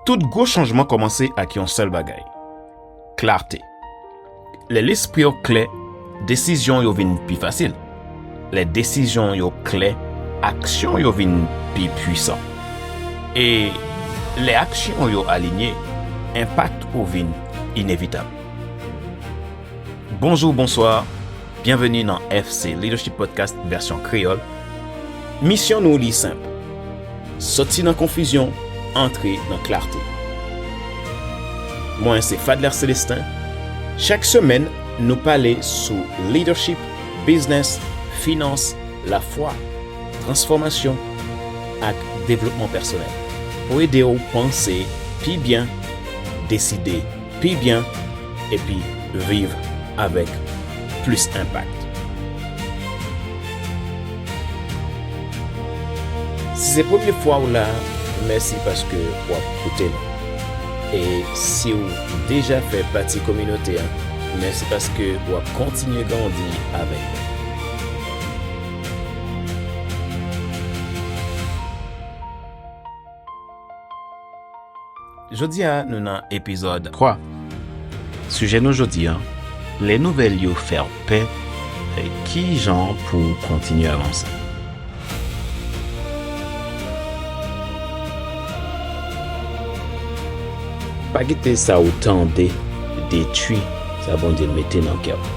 Tout gwo chanjman kòmanse ak yon sèl bagay, klarte. Lè lespri yo klè, desizyon yo vin pi fasil. Lè desizyon yo klè, aksyon yo vin pi puisan. E lè aksyon yo alinye, enpak yo vin inevitab. Bonjou, bonswa. Byenveni nan FC Leadership Podcast vèsyon kreyòl. Misyon nou li senp, soti nan konfizyon, antre nan klarte. Mwen se Fadler Celestin. Chak semèn, nou pale sou leadership, biznes, finans, lafwa, transfòmasyon ak devlopman pèsonèl pou ede w panse pi byen, deside pi byen epi viv avèk plis enpak. Si se premye fwa ou la, mèsi paske wap koute nou. E siw deja fè pati kominote an, mèsi paske wap kontinye grandi avèk nou. Jodi a nou nan epizòd 3. Sijè nou jodi a, lè nouvèl yo fè w pè, ki jan pou w kontinye avanse? Pa kite sa ou tande detwi sa Bondye mete nan kè w.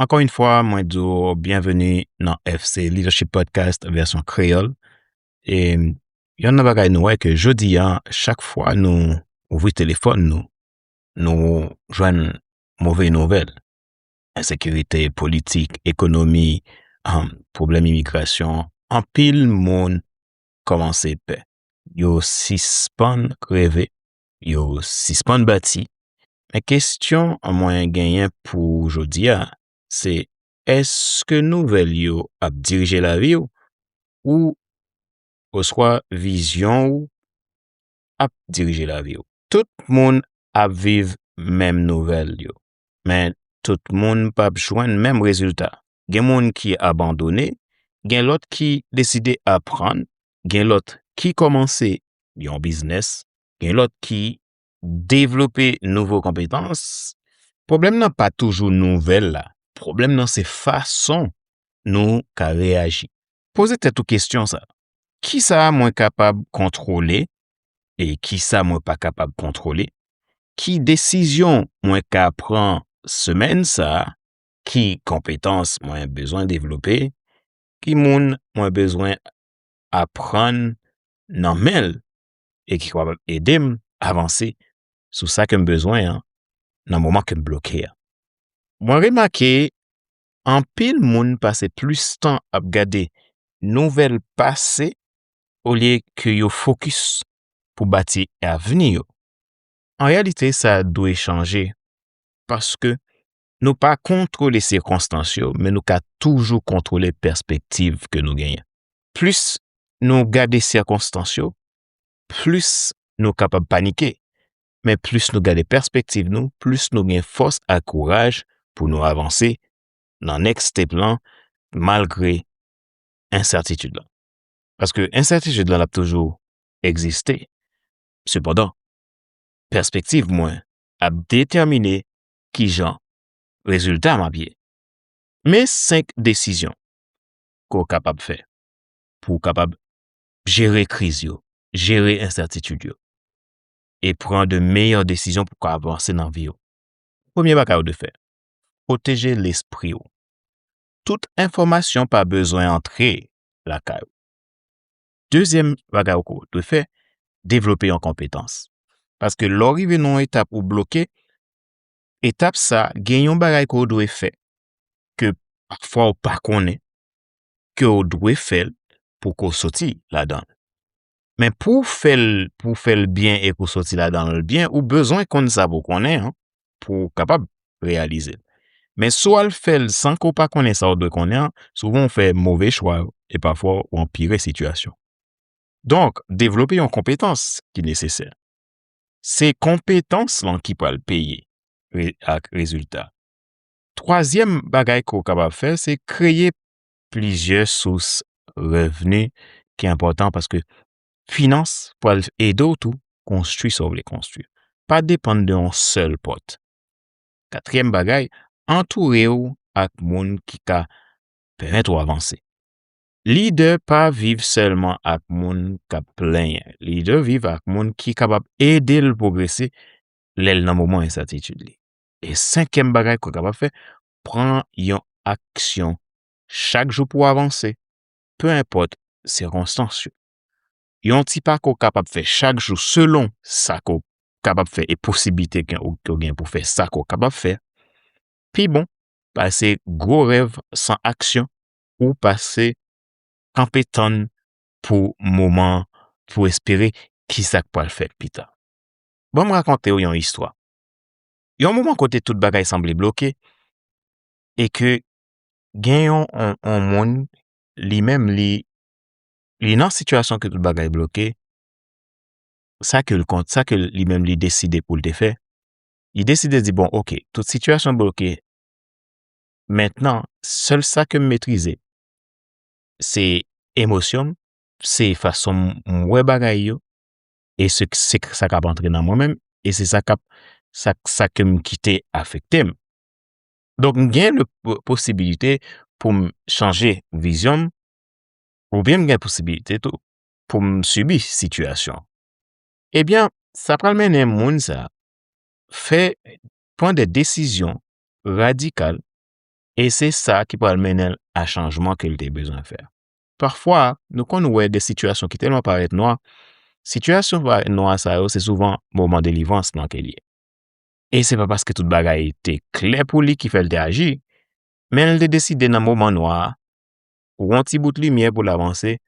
Ankò yon fwa, mwen di w byenveni nan FC Leadership Podcast vèsyon kreyòl. E yon nan bagay nou wè ke jodi a, chak fwa nou ouvri telefòn nou, nou jwenn move nouvèl. Ensekirite, politik, ekonomi, pwoblèm imigrasyon, anpil moun kòmanse pè. Yo sispann reve yo sispann bati. Men kestyon mwen genyen pou jodi a, se eske nouvèl yo ap dirije lavi w ou oswa vizyon ou ap dirije lavi w? Tout moun ap viv menm nouvèl yo, men tout moun pap jwenn menm rezilta. gen moun ki abandone, gen lòt ki deside aprann, gen lòt ki kòmanse yon biznes, gen lòt ki devlope nouvo konpetans. Pwoblèm nan pa toujou nouvèl la, pwoblèm nan se fason nou ka reyaji. Poze tèt ou kesyon sa, kisa mwen kapab kontwole e kisa mwen pa kapab kontwole? Ki desizyon mwen ka pran semèn sa ki konpetans mwen bezwen devlope, ki moun mwen bezwen aprann nan menl e ki kapab edem avanse sou sa kem bezwen an nan moman kem bloke a. Mwen remake anpil moun pase plis tan ap gade nouvèl pase olye ke yo fokis pou bati avni yo. An reyalite sa dwe chanje paske Nou pa kontwole sikonstans yo, men nou ka toujou kontwole pèspektiv ke nou genyen. Plis nou gade sikonstans yo, plis nou kapab panike, men plis nou gade pèspektiv nou, plis nou gen fòs ak kouraj pou nou avanse nan next step lan malgre ensètitid lan. Paske ensètitid lan ap toujou egziste, sepandan pèspektiv mwen ap detèmine ki jan rezilta m ap ye. Men 5 desizyon ke w kapab fè pou w kapab jere kriz yo, jere ensètitid yo e pran de meyè desizyon pou w ka avanse nan vi w. Premye bagay ou dwe fè, pwoteje lespri w. Tout enfòmasyon pa bezwen antre lakay ou. Dezyèm bagay ou ko dwe fè, devlope yon konpetans. Paske lè ou rive nan yon etap ou bloke, etap sa gen yon bagay ko dwe fè ke pafwa ou pa konnen ke ou dwe fè l pou ko soti ladan. Men pou fè l pou fè l byen e pou soti ladan l byen ou bezwen konn sa pou konnen an. pou w kapab reyalize l. Men si w al fè l san ke w pa konnen sa w dwe konnen an, souvan w fè move chwa e pafwa w anpire sitiyasyon. Donk, devlope yon konpetans ki nesesè. Se konpetans lan ki pral peye ak rezilta. Twazyèm bagay ke w kapab fè se kreye plizyè sous revni ki enpòtan paske Finans pral ede w tou konstwi sa w vle konstwi. Pa depann de yon sèl pòt. Katriyèm bagay, antoure w ak moun ki ka pèmèt ou avanse. Lidè pa viv sèlman ak moun k ap plenyen. Lidè viv ak moun ki kapab ede l pwogrese lè l nan moman ensètitid li. E senkyèm bagay ke w kapab fè, pran yon aksyon chak jou pou w avanse. pe enpòt sikonstans yo. Yon ti pa ke w kapab fè chak jou selon sa ke w kapab fè e posiblite ke w gen pou fè sa ke w kapab fè, pi bon pase gwo rèv san aksyon ou pase kanpe tann pou moman an pou w espere ki sa k pral fèt pi ta. Ban m rakonte w yon istwa. Yon moman kote tout bagay sanble bloke e ke gen yon yon moun li menm li li nan sitiyasyon ke tout bagay bloke sa ke kont sa ke li menm li deside poul te fè li deside di bon ok tout sitiyasyon bloke mentnan sèl sa kem metrize se emosyonm se fasonm wè bagay yo e se sa kap antre nan mwen menm e se sa kap sa kem kite afektem Donk m gen posibilite pou m chanje vizyon m ou byen m gen posibilite tou pou m sibi sitiyasyon. Ebyen sa pral mennen moun sa fè pran de desizyon radikal e se sa ki pral mennen l a chanjman ke l te bezwen fè. Pafwa nou konn wè de sitiyasyon ki tèlman parèt nwa, sitiyasyon parèt nwa sa yo se souvan moman delivrans lan ke l ye. e se pa paske tout bagay te klè pou li ki fè l te aji, men l te deside nan moman nwa a, pou yon ti bout limyè pou l avanse,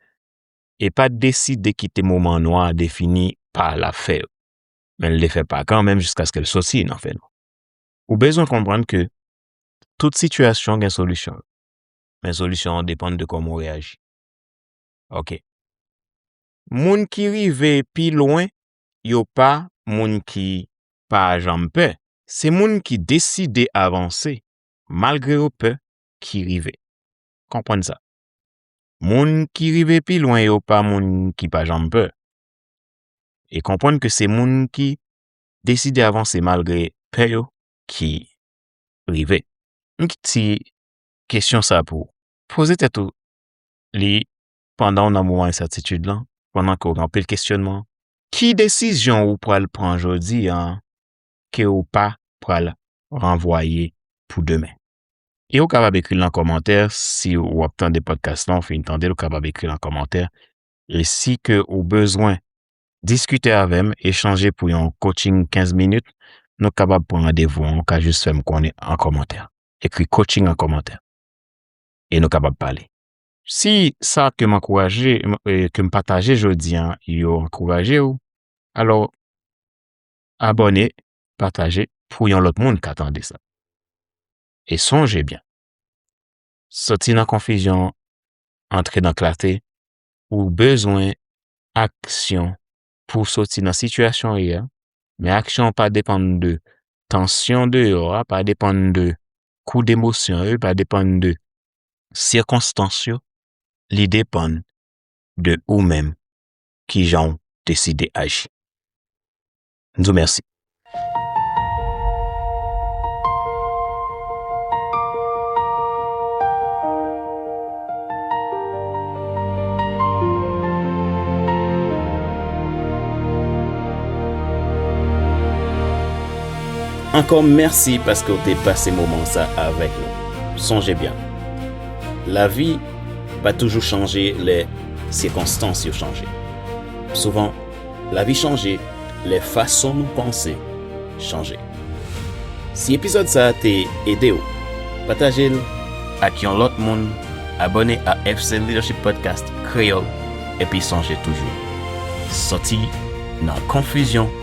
e pa deside kite moman nwa a defini pa l ap fè yo, men l te fè pa kanmenm jiskaske l soti nan fè nwa. Ou bezwen konprann ke tout sitiyasyon gen solisyon l, men solisyon an depann de kòman w reyaji. Ok. Moun ki rive pi lwen yo pa moun ki pa janm pè, se moun ki deside avanse malgre yo pè ki rive. Konprann sa. Moun ki rive pi lwen yo pa moun ki pa janm pè. E konprann ke se moun ki deside avanse malgre pè yo ki rive. M gen ti kesyon sa pou ou. Poze tèt ou li pandan w nan moman ensètitid lan, pandan ke w gen anpil kesyonman, ki desizyon ou pral pran jodi a ke ou pa pral ranvwaye pou demen? E ou kapab ekri l nan kòmantè, si ou ap tande podcast lan, ou fin tande l, ou kapab ekri l nan kòmantè. E si ke ou bezwen diskite avè m, echanje pou yon coaching 15 minit, nou kapab pran randevou an, ou ka jis fè m konnen an kòmantè. Ekri coaching an kòmantè. E nou kapab pale. Si sa ke m ankouraje, ke m pataje jodi an yo ankouraje w, alò abòne, pataje pou yon lòt moun ka tande sa. E sonje byen, soti nan konfizyon, antre nan klate, ou bezwen aksyon pou soti nan sitiyasyon ou ye a, men aksyon an pa depann de tansyon deyò a, pa depann de kou demosyon yo, pa depann de sikonstans yo li depann de ou menm kijanw deside aji m di w mèsi. Ankò mèsi paske w te pase moman sa avèk nou. Sonje byen, lavi pa toujou chanje lè sikonstans yo chanje. Souvan, lavi chanje lè fason nou panse chanje. Si epizòd sa te ede w, pataje l ak yon lòt moun, abòne a FC Leadership Podcast Kreyòl, epi sonje toujou, soti nan konfizyon.